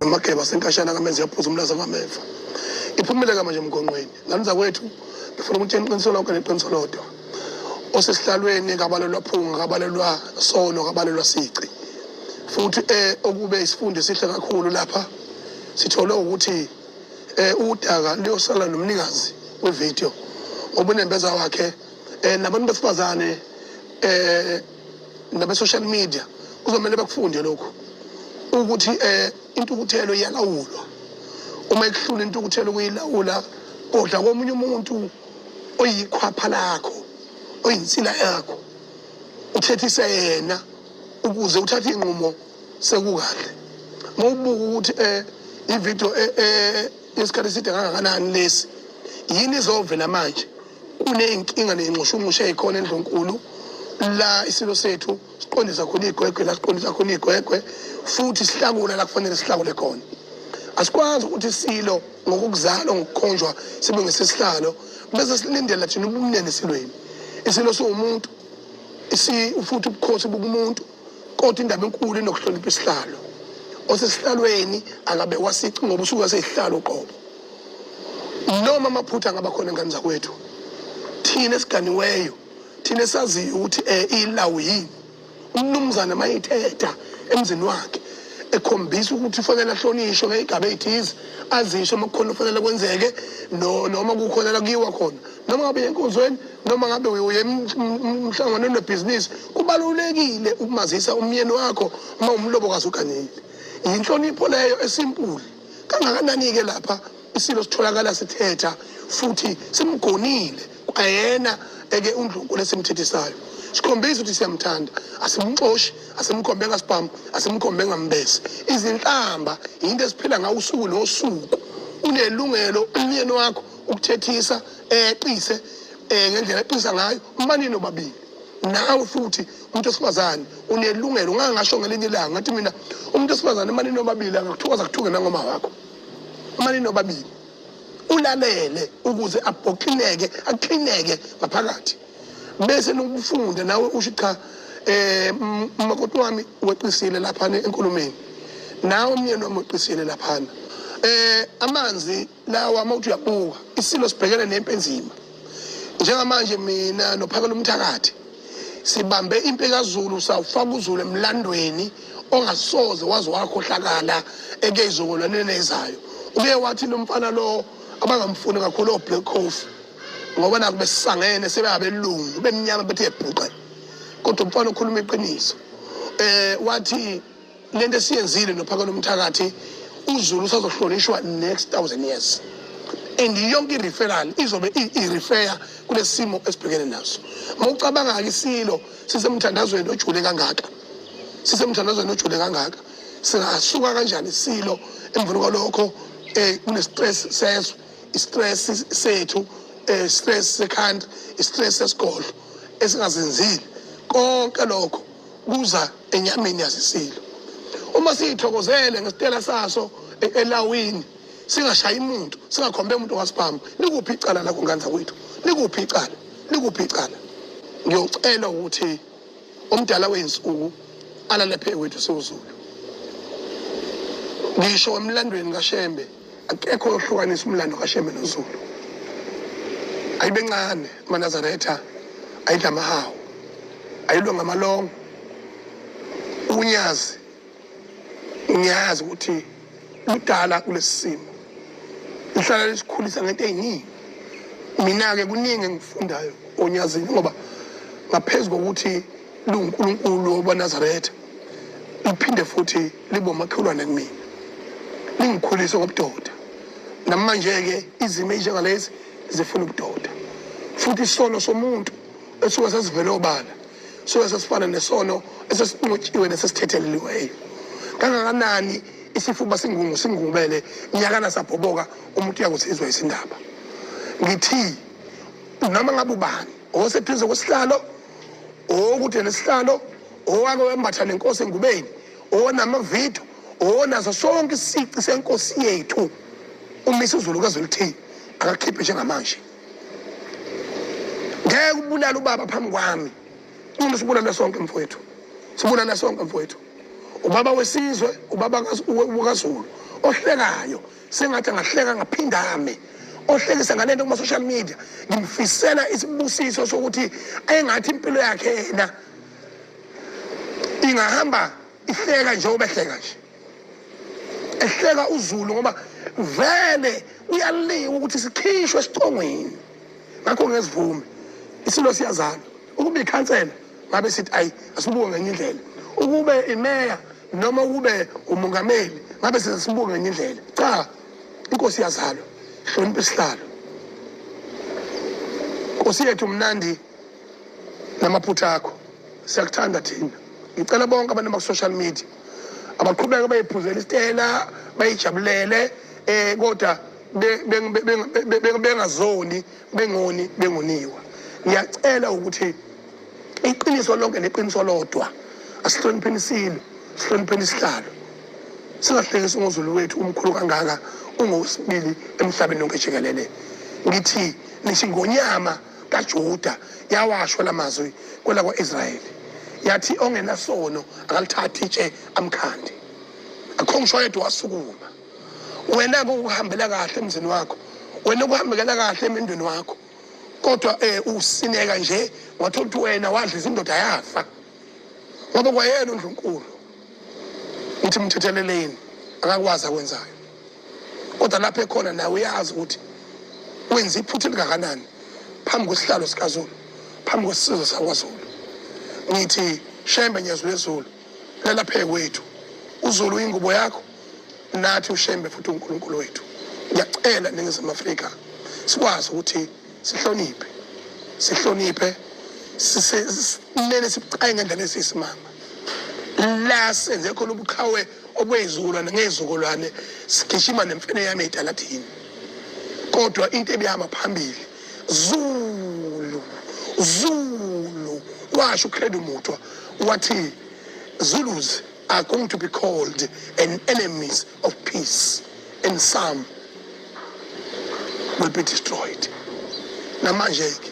amageba asenkashana kamenzi yaphuza umlaza kwameva iphumile kama nje emgonqweni ngani zakwethu ngifuna ukuthi eniqiniselo lonke neqiniso lodwa osesihlalweni kabalelwa phunga kabalelwa solo kabalelwa sici futhi eh okube isifundo esihle kakhulu lapha sithole ukuthi eh udaka luyosala nomnikazi wevideo obunembeza wakhe eh nabantu besifazane eh nabe social media kuzomela bakufunde lokho ukuthi eh intukuthelo iyalawulwa uma ikuhlula intukuthelo kuyilawula kodwa komunye umuntu oyikhwapha lakho oyinsila yakho uthethise yena ukuze uthathe inqumo sekukahle uma ubuka ukuthi um eh, ividiyo eh, eh, yesikhathi eside kangakanani lesi yini izovela manje kuney'nkinga ney'nxushunxushu ey'khona endlunkulu la isilo sethu siqondisa khona iy'gwegwe la siqondisa khona iy'gwegwe futhi sihlakula la kufanele sihlakule khona asikwazi ukuthi silo ngokukuzalwa ngokukhonjwa sibe ngesesihlalo bese silindela thina ubumnene esilweni isilo siwumuntu futhi ubukhosi bukumuntu kodwa indaba enkulu inokuhlonipha isihlalo osesihlalweni akabekwa sici ngoba usuke sesihlalo qobo noma amaphutha angaba khona ngane zakwethu thina esiganiweyo thina esaziyo ukuthi um ilawu yini umnumzane uma ethetha emzini wakhe ekhombisa ukuthi ufanele ahlonishwe ngey'gaba ey'thize azisho uma kukhona okufanele kwenzeke noma kukhona la kuyiwa khona noma ngabe yenkonzweni noma ngabe uye mhlangano onebhizinisi kubalulekile ukumazisa umyeni wakho uma umlobokazi uganile yinhlonipho leyo esimpuli kangakanani-ke lapha isilo sitholakala sithetha futhi simgonile kwayena eke undlunkulu esimthethisayo sikhombisa ukuthi siyamthanda asimxoshi asimkhombe ngasibhamu asimkhombe ngambese izinhlamba yinto esiphila ngawo usuku nosuku unelungelo umyeni wakho ukuthethisa eqise eh ngendlela eqisa ngayo umane nobabili nawe futhi umuntu wesifazane unelungelo ungangasho ngelinye ilanga ngathi mina umuntu wesifazane umane nobabili angakuthokoza kuthuke nangoma wakho umane nobabili ulalele ukuze abhoxineke aqineke ngaphakathi bese nokufunda nawe usho cha eh makoti wami weqisile lapha enkulumeni nawe umyeni wami weqisile lapha eh amanzi nawa uma uthi uyabuka isilo sibhekene nempi enzima njengamanje mina nophakela umthakathi sibambe impi kazulu sawufaka uzulu emlandweni ongasoze waze wakhohlakala ekeyizongolaneni ezayo uke wathi lo mfana lo abangamfuni kakhulu oblack coffee ngoba naku besisangene sebengabelungu bemnyama bethe ebhuqe kodwa umfana okhuluma iqiniso um wathi le nto esiyenzile nophakela umthakathi uzulu usazohlonishwa next thousand years and yonke i-referral izobe i-refeya kulesi simo esibhekene naso uma ucabanga-ke isilo sisemthandazweni ojule kangaka sisemthandazweni ojule kangaka singasuka kanjani isilo emveni kwalokho um eh, kune-stress sezwe i-stress sethu um eh, stress sekhanda i-stress sesigodlo esingazenzile konke lokho kuza enyameni yasisilo uma siyithokozele ngesitela saso e- elawini singashayi muntu singakhombe umuntu wasibhamu likuphi icala lakho ngane zakwethu likuphi icala likuphi icala ngiyocela ukuthi umdala wey'nsuku alale phekwethu siwuzulu ngisho emlandweni kashembe akekho ohlukanisa umlando kashembe nozulu ayibe ncane amanazaretha ayidla amahawu ayilwe ngamalongo unyazi ngiyazi ukuthi ludala kulesi simo lihlala lisikhulisa ngento eyiningi mina-ke kuningi engifundayo onyazini ngoba ngaphezu kokuthi lungunkulunkulu obanazaretha liphinde futhi libomakhelwane kumina lingikhulise ngobudoda namanje-ke izimo ezinjengalezi zifuna ubudoda futhi isono somuntu esuke sesivele obala suke sesifana nesono esesinqotshiwe nesesithetheleliweyo kangakanani isifuba singungu singungubele nyakana sabhoboka umuntu uyakusizwa isindaba ngithi noma ngabe ubani oseduze kwesihlalo okude nesihlalo owake wembatha nenkosi engubeni onamavidiyo onazo sonke isici senkosi yethu umisa uzulu kazolithini akakhiphe njengamanje ngeke ubulale ubaba phambi kwami uma sibulale sonke mfowethu sibulale sonke mfowethu ubaba wesizwe ubaba kazulu ohlekayo sengathi angahleka ngaphindame ohlekisa ngale nto kuma-social media ngimfisela isibusiso sokuthi engathi impilo yakhe yena ingahamba ihleka njengoba ehleka nje ehleka uzulu ngoba vele uyaliwa ukuthi sikhishwe esithongweni ngakho ngesivume isilo siyazalwa ukuba ikhansela ngabe sithi ayi asibuke ngenye indlela ukube imeya noma ukube umongameli ngabe sesibuke ngenye indlela cha inkosi iyazalwa hlonipha isihlalo nkosi yethu mnandi namaphutha akho siyakuthanda thina ngicela bonke abantu baku-social media abaqhubeke bayiphuzela isitena bayijabulele um kodwa bengazoni bengoni bengoniwa ngiyacela ukuthi iqiniso lonke neqiniso lodwa asihlonipheni isilo sihlonipheni isihlalo singahlekisi ungozulu wethu umkhulu kangaka ungowesibili emhlabeni lonke jikelele ngithi nithi ngonyama kaJuda yawasho lamazwi kwelakwa-Israyeli yathi ongenasono akalithathi itshe amkhandi akho ngisho oyedwa wasukuma wena kukuhambela kahle emzini wakho wena kuhambekela kahle emendweni wakho kodwa eh usineka nje wathola ukuthi wena wadla izindoda yafa ngoba kwayena uNdlunkulu uthi mthetheleleni akakwazi akwenzayo kodwa lapho ekhona naye uyazi ukuthi wenza iphutha elingakanani phambi kwesihlalo sikazulu phambi kwesizwe sakwazulu ngithi shembe nyezulu ezulu lelapheke kwethu uzulu uyingubo yakho nathi ushembe futhi unkulunkulu wethu ngiyacela ningizimu afrika sikwazi ukuthi sihloniphe sihloniphe kumele sibucaye ngendlela esiyisimanga la senze khona ubuqhawe okwey'zukulwane ngey'zukulwane sigijima nemfene yami ey'taladini kodwa into ebihamba phambili zulu zulu washo ucredo mutwa wathi zulus are going to be called an enemies of peace and some will be destroyed namanje-ke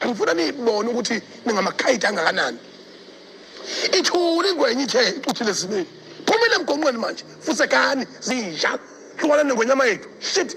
Angifuna niyibone ukuthi ningamakhayidi angakanani. Ithuli ingwenya ithe icuthile esimeni. Phumile emgonqweni manje, fusekani zinja. Hlukana nengwenyama yethu. Shit.